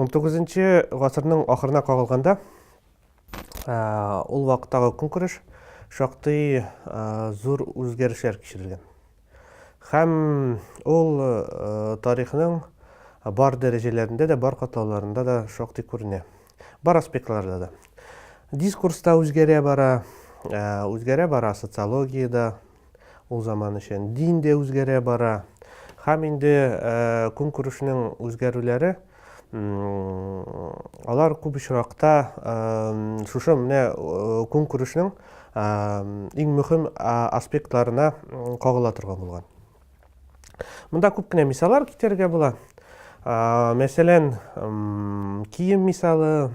он тогызынчы гасырның ахырына кагылганда ул вакыттагы көнкүреш шактый зур үзгәрешләр кичерелгән Һәм ул тарихның бар дәрәҗәләрендә дә, бар катлауларында да шактый күренә. Бар аспектларда да. Дискурста үзгәрә бара, үзгәрә бара социологиядә ул заман өчен. Дин дә үзгәрә бара. Һәм инде көнкүрешнең үзгәрүләре Алар күп очракта шушы менә көнкүрешнең иң мөһим аспектларына кагыла торган булган. Монда күп кенә мисаллар китерергә була. Мәсәлән, кием мисалы,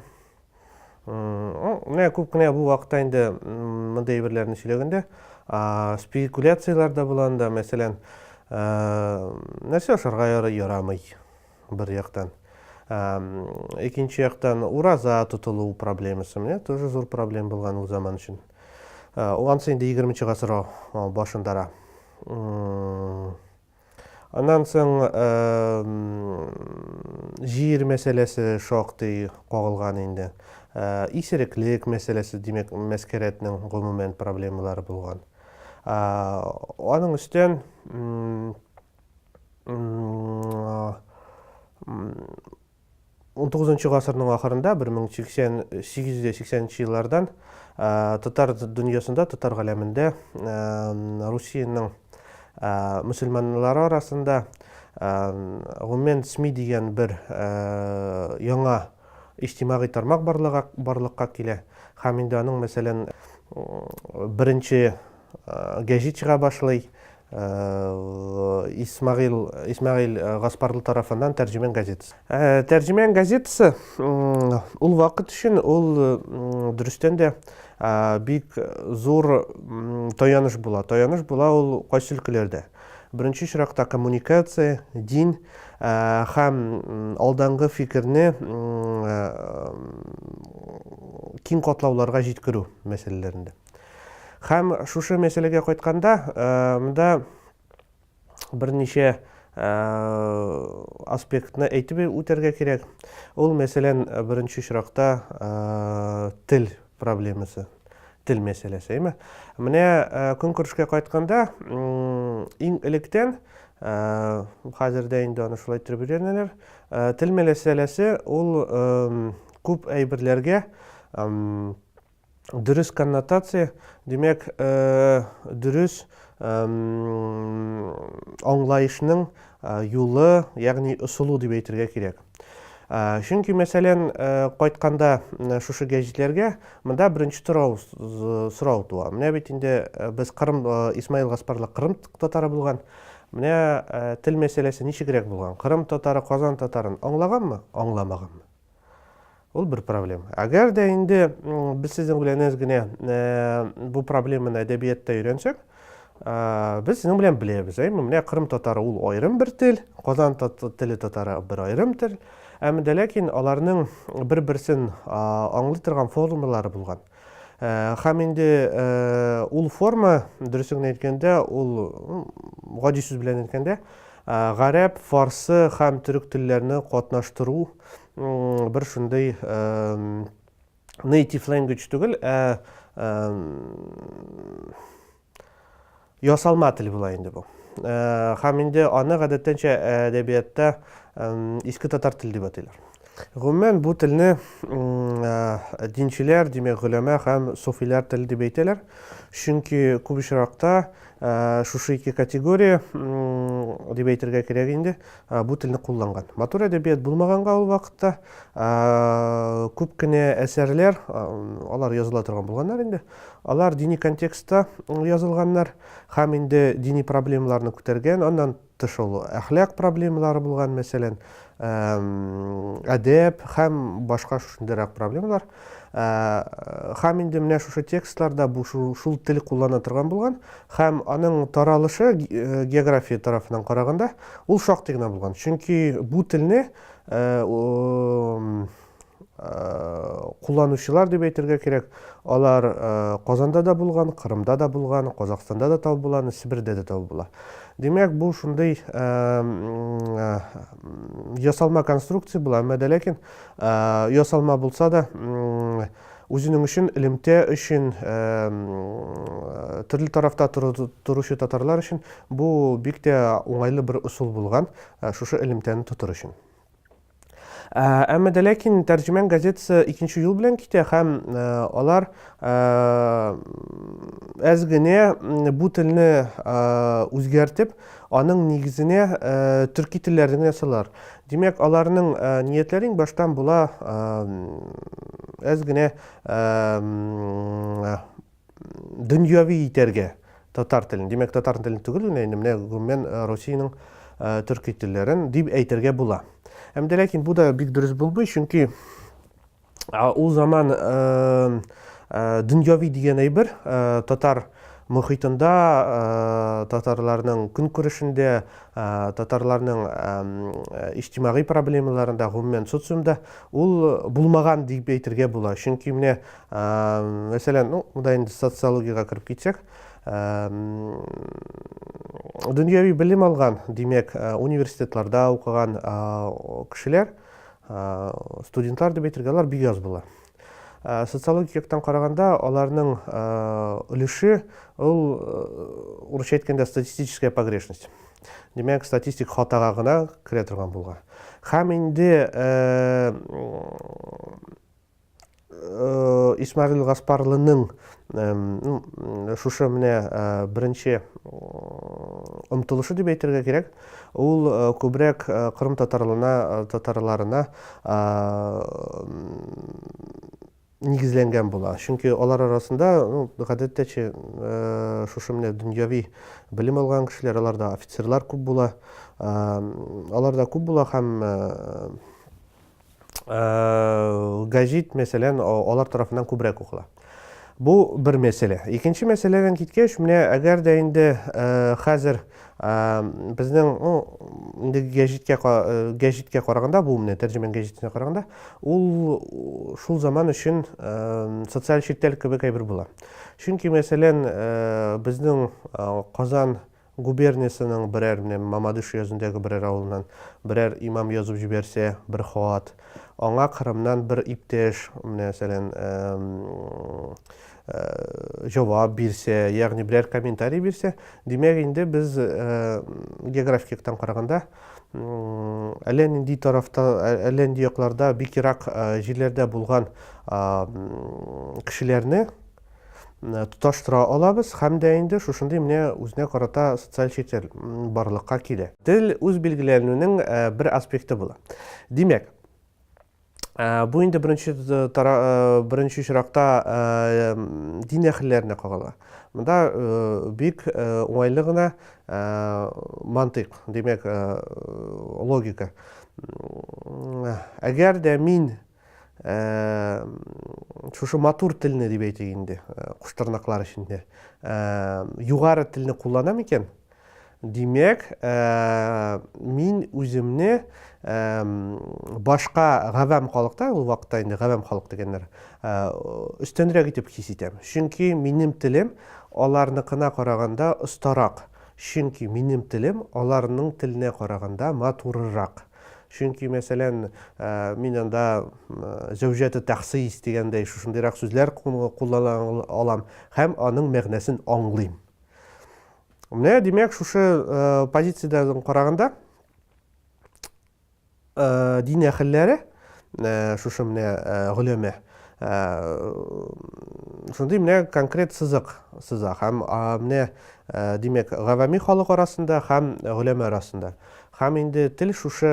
менә күп кенә бу вакытта инде мондый әйберләрне сөйләгәндә спекуляцияләр дә була анда, мәсәлән, нәрсә ашарга ярый, ярамый. бер яктан. Икенче яктан ураза тотылу проблемасы менә тоже зур проблем булган ул заман өчен. Ансы инде 20 нче гасыр башындара. Аннан соң җир мәсьәләсе шактый кагылган инде. Исереклек мәсьәләсе, димәк, мәскәрәтнең гомумән проблемалары булган. Аның өстен 19 гасырның ахырында 1880 нче еллардан татар дөньясында татар галәмендә русиянең мөселманнары арасында гомумән сми дигән бер яңа иҗтимагый тармак барлыга барлыкка килә һәм инде аның мәсәлән беренче гәҗит чыга башлый Исмәгыйль Исмәгыйль Гаспарлы тарафыннан Тәрҗемән газетасы. Тәрҗемән газетасы ул вакыт өчен ул дөрестән дә бик зур таяныш була. Таяныш була ул кайсы өлкәләрдә? Беренче чиракта коммуникация, дин һәм алдангы фикерне киң катлауларга җиткерү мәсьәләләрендә. Хәм шушы мәсьәләгә кайтканда, монда берничә аспектны әйтеп үтәргә кирәк. Ул, мәсәлән, беренче очракта тел проблемасы, тел мәсьәләсе, әйме? Менә көнкүрешкә кайтканда, иң электән, хәзер дә инде аны шулай иттереп өйрәнәләр, тел мәсьәләсе ул күп әйберләргә дөрес коннотация, димәк, дөрес аңлаешның юлы, ягъни ысулы дип әйтергә кирәк. Чөнки, мәсәлән, кайтканда шушы гәҗитләргә монда беренче торау сорау туа. Менә бит инде без Кырым Исмаил Гаспарлы Кырым татары булган. Менә тел мәсьәләсе ничегрәк булган? Кырым татары Казан татарын аңлаганмы, аңламаганмы? Ул бер проблема. Әгәр дә инде без сезнең белән әз генә бу проблеманы әдәбиятта өйрәнсәк, без сезнең белән беләбез, әйме, менә кырым татары ул аерым бер тел, казан теле татары бер аерым тел, әмма дә ләкин аларның бер-берсен аңлый торган формалары булган. Хәм инде ул форма, дөресен әйткәндә, ул гади сүз белән әйткәндә, гарәп, фарсы һәм төрек телләрне катнаштыру бер шундый native language түгел, ә ясалма тел була инде бу. Һәм инде аны гадәттәнчә әдәбиятта иске татар теле дип атыйлар. Гомумән бу телне динчеләр, димәк, гөләмә һәм суфиләр теле дип әйтәләр. Чөнки күп очракта шушы ике категория дип әйтергә кирәк инде, бу телне кулланган. Матур әдәбият булмаганга ул вакытта күп кенә әсәрләр, алар языла торган булганнар инде. Алар дини контекстта язылганнар һәм инде дини проблемаларны күтәргән, аннан тыш ул әхлак проблемалары булган, мәсәлән, әдәп һәм башка шушындыйрак проблемалар. Һәм инде менә шушы текстларда бу шул тел куллана торган булган һәм аның таралышы география тарафыннан караганда Ул шактый гына булган. Чөнки бу телне кулланучылар дип әйтергә кирәк. Алар Казанда да булган, Кырымда да булган, Казахстанда да табып була, Себердә дә табып була. Димәк, бу шундый ясалма конструкция була, әмма дә ләкин ясалма булса да, Үзенең өчен, элемтә өчен, төрле тарафта торучы татарлар өчен бу бик тә уңайлы бер ысул булган, шушы элемтәне тотыр өчен. Әмма дә ләкин тәрҗемән газетасы икенче юл белән китә һәм алар әз генә бу телне үзгәртеп, аның нигезенә төрки телләрне генә салалар. Димәк, аларның ниятләре иң баштан була әз генә дөньяви итәргә татар телен. Димәк, татар телен түгел генә инде менә гомумән Россиянең төрки телләрен дип әйтергә була. Әмдә ләкин бу да бик дөрес булмый, чөнки Ул заман дөньяви дигән әйбер татар мөхитендә, татарларның көнкүрешендә, татарларның иҗтимагый проблемаларында, гомумән социумда ул булмаган дип әйтергә була. Чөнки менә, мәсәлән, ну, монда инде социологиягә кереп китсәк, дөньяви белем алган, димәк, университетларда укыган кешеләр, студентлар дип әйтергә алар бик аз була социологик яктан караганда аларның өлеше ул урысча әйткәндә статистическая погрешность димәк статистик хатага гына керә торган булган һәм инде Исмәгыйль Гаспарлының шушы менә беренче омтылышы дип әйтергә кирәк. Ул күбрәк кырым татарларына, татарларына нигезләнгән була. Чөнки алар арасында, ну, гадәттә чи, шушы менә дөньяви белем алган кешеләр, аларда офицерлар күп була. Аларда күп була һәм гәҗит, мәсәлән, алар тарафыннан күбрәк укыла. Бу бер мәсьәлә. Икенче мәсьәләдән киткәч, менә әгәр дә инде хәзер безнең ну, инде гәҗиткә гәҗиткә караганда, бу менә тәрҗемән гәҗитенә караганда, ул шул заман өчен социаль читтәлек кебек әйбер була. Чөнки, мәсәлән, безнең Казан Губерниясенең берәр, менә Мамадыш өязендәге берәр авылыннан берәр имам язып җибәрсә бер хат, аңа Кырымнан бер иптәш, менә сәлән, җавап бирсә, ягъни берәр комментарий бирсә, димәк инде без географик яктан караганда әллә нинди тарафта, әллә нинди якларда, бик ерак җирләрдә булган кешеләрне тоташтыра алабыз һәм дә инде шушындый менә үзенә карата социаль чител барлыкка килә. Тел үз билгеләнүнең бер аспекты була. Димәк, бу инде беренче беренче очракта дин әһелләренә кагыла. Монда бик уңайлы гына мантыйк, димәк, логика. Әгәр дә мин шушы матур телне дип әйтик инде куштырнаклар эчендә югары телне кулланам икән димәк мин үземне башка гавам халыкта ул вакытта инде гавам халык дигәннәр өстенрәк итеп хис итәм чөнки минем телем аларныкына караганда остарак чөнки минем телем аларның теленә караганда матурырак Чөнки, мәсәлән, мин анда зәүҗәте тәхсис дигәндәй шушындыйрак сүзләр куллана алам һәм аның мәгънәсен аңлыйм. Менә димәк, шушы позициядән караганда дин әһелләре шушы менә гөләмә шундый менә конкрет сызык сыза һәм менә димәк, гавами халык арасында һәм гөләмә арасында. Һәм инде тел шушы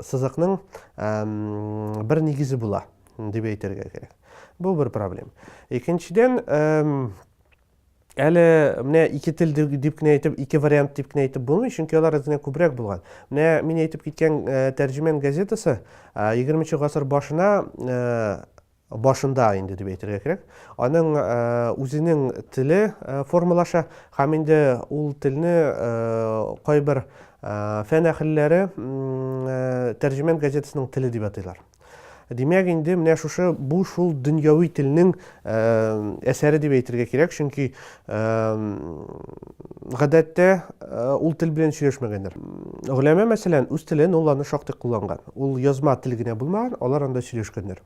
сызыкның бер нигезе була, дип әйтергә кирәк. Бу бер проблем. Икенчедән, әле менә ике тел дип кенә әйтеп, ике вариант дип кенә әйтеп булмый, чөнки алар үзенә күбрәк булган. Менә мин әйтеп киткән тәрҗемән газетасы 20 нче гасыр башына башында инде дип әйтергә кирәк, аның үзенең теле формалаша һәм инде ул телне кайбер фән әһелләре Тәрҗемән газетасының теле дип атыйлар. Димәк, инде менә шушы бу шул дөньяви телнең әсәре дип әйтергә кирәк, чөнки гадәттә ул тел белән сөйләшмәгәннәр. Гөләмә мәсәлән, үз телен ул аны шактый кулланган. Ул язма тел генә булмаган, алар анда сөйләшкәннәр.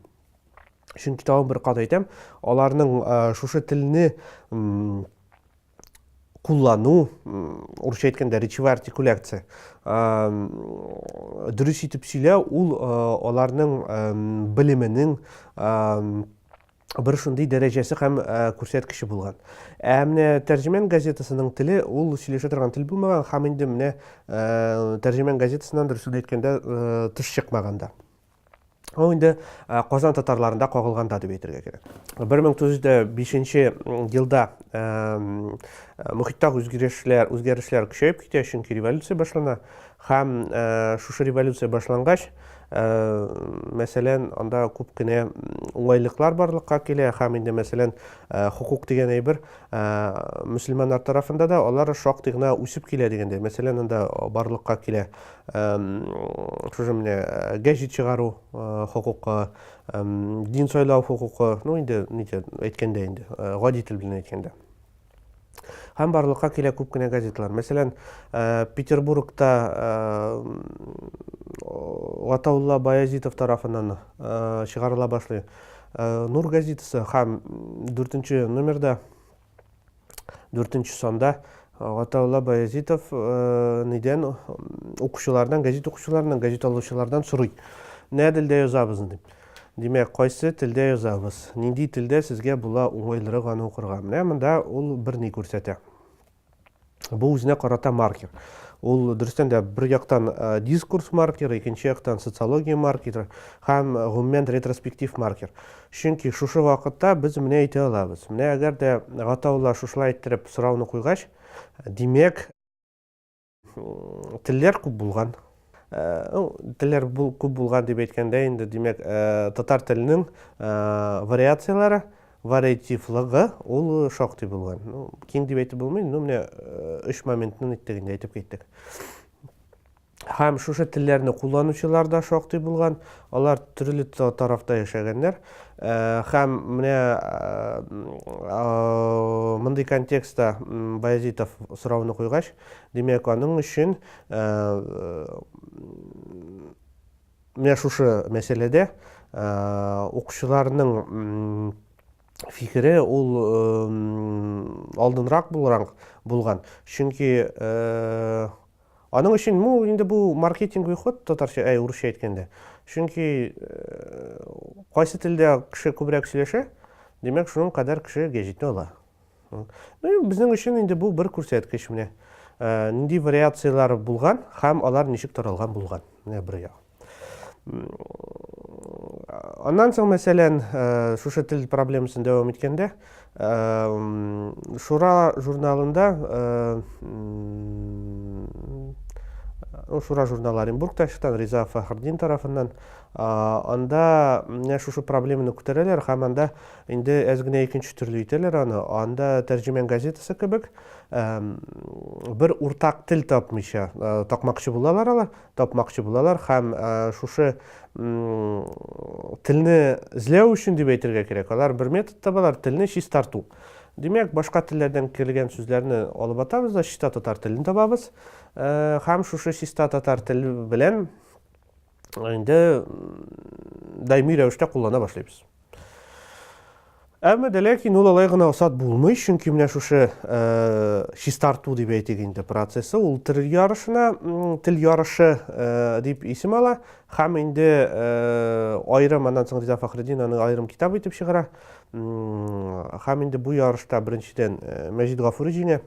чөнки тагын бер кат әйтәм аларның шушы телне куллану урысча әйткәндә речевая артикуляция дөрес итеп сөйләү ул аларның белеменең бер шундый дәрәҗәсе һәм күрсәткече булган ә менә тәрҗемән газетасының теле ул сөйләшә торган тел булмаган һәм инде менә тәрҗемән газетасыннан дөресен әйткәндә тыш чыкмаганда Ул инде э, Казан татарларында кагылганда дип әйтергә кирәк. 1905 елда э, мөхиттә үзгәрешләр, үзгәрешләр көчәеп китә, чөнки революция башлана. Һәм э, шушы революция башлангач, мәсәлән, анда күп кенә уңайлыклар барлыкка килә, һәм инде мәсәлән, хукук дигән әйбер мөселманнар тарафында да алар шактый гына үсеп килә дигәндә. Мәсәлән, анда барлыкка килә шушы менә э, гәҗит чыгару э, хокукы дин сайлау хокукы ну инде ничә әйткәндә инде э, гади тел белән әйткәндә һәм барлыкка килә күп кенә газеталар мәсәлән петербургта гатаулла баязитов тарафыннан чыгарыла башлый нур газетасы һәм дүртенче номерда дүртенче санда Гатаулла Баязитов нидән укучылардан, гәзит укучыларыннан, гәзит алучылардан сорый. Нә телдә язабыз дип. Димәк, кайсы телдә язабыз? Нинди телдә сезгә була уңайлырак аны укырга? Менә монда ул бер ни күрсәтә. Бу үзенә карата маркер. Ул дөрестән дә бер яктан дискурс маркеры, икенче яктан социология маркеры һәм гомумән ретроспектив маркер. Чөнки шушы вакытта без менә әйтә алабыз. Менә әгәр дә Гатаулла шушылай иттереп сорауны куйгач, димәк, телләр күп булган. Ну, телләр бул, күп булган дип әйткәндә инде, димәк, татар теленең вариацияләре, вариативлыгы ул шактый булган. Ну, киң дип әйтеп булмый, ну, менә өч моментны әйттек инде, әйтеп киттек. Һәм шушы телләрне кулланучылар да шактый булган, алар төрле тарафта яшәгәннәр. Һәм менә мондый контекстта Баязитов сорауны куйгач, димәк, аның өчен Менә шушы мәсьәләдә укучыларның фикере ул алдынрак булрак булган. Чөнки аның өчен бу инде бу маркетинговый ход татарча, әй, урысча әйткәндә. Чөнки кайсы телдә кеше күбрәк сөйләшә, димәк, шуның кадәр кеше гәҗитне ала. Ну, безнең өчен инде бу бер күрсәткеч менә. Э, нинди вариацияләр булган һәм алар ничек таралган булган. Менә бер як. Аннан соң, мәсәлән, э, шушы тел проблемасын дәвам иткәндә, э, Шура журналында ну, Шура журналы Оренбургта чыккан Риза Фахрдин тарафыннан анда менә шушы проблеманы күтәрәләр һәм анда Инде әз генә икенче төрле итәләр аны, анда Тәрҗемән газетасы кебек, бер уртак тел тапмыйча, тапмакчы булалар алар, тапмакчы булалар һәм шушы телне эзләү өчен дип әйтергә кирәк, алар бер метод табалар, телне чистарту. Димәк, башка телләрдән кергән сүзләрне алып атабыз да чиста татар телен табабыз һәм шушы чиста татар теле белән инде даими рәвештә куллана башлыйбыз. Әмма дә ләкин ул алай гына усат булмый, чөнки менә шушы э, чистарту дип әйтик инде процессы, ул тел ярышына, тел ярышы э, дип исем ала, һәм инде э, аерым аннан соң Риза Фахреддин аны аерым китап итеп чыгара. Һәм инде бу ярышта беренчедән Мәҗит Гафури җиңә,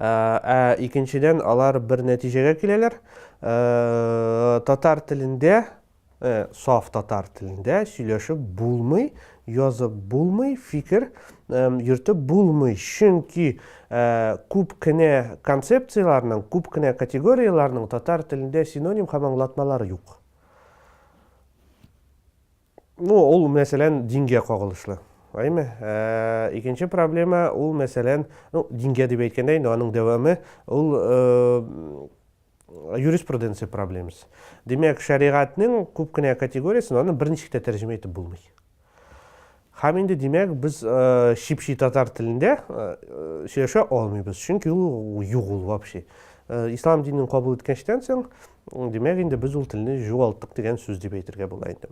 Ә икенчедән, алар бер нәтиҗәгә киләләр. Татар телендә, саф татар телендә сөйләшеп булмый, язып булмый, фикер йөртеп булмый. Чөнки күп кенә концепцияләрнең, күп кенә категорияләрнең татар телендә синоним һәм аңлатмалары юк. Ну, ул мәсәлән дингә кагылышлы. Әйме? Ә, икенче проблема ул мәсәлән, ну, дингә дип әйткәндә инде аның дәвамы ул юриспруденция проблемасы. Димәк, шәригатьнең күп кенә категориясен аны берничек тә тәрҗемә итеп булмый. Һәм инде димәк, без чипчи татар телендә сөйләшә алмыйбыз, чөнки ул юк ул вообще. Ислам динен кабул иткәнчтән соң Димәк, инде без ул телне җуалттык дигән сүз дип әйтергә була инде.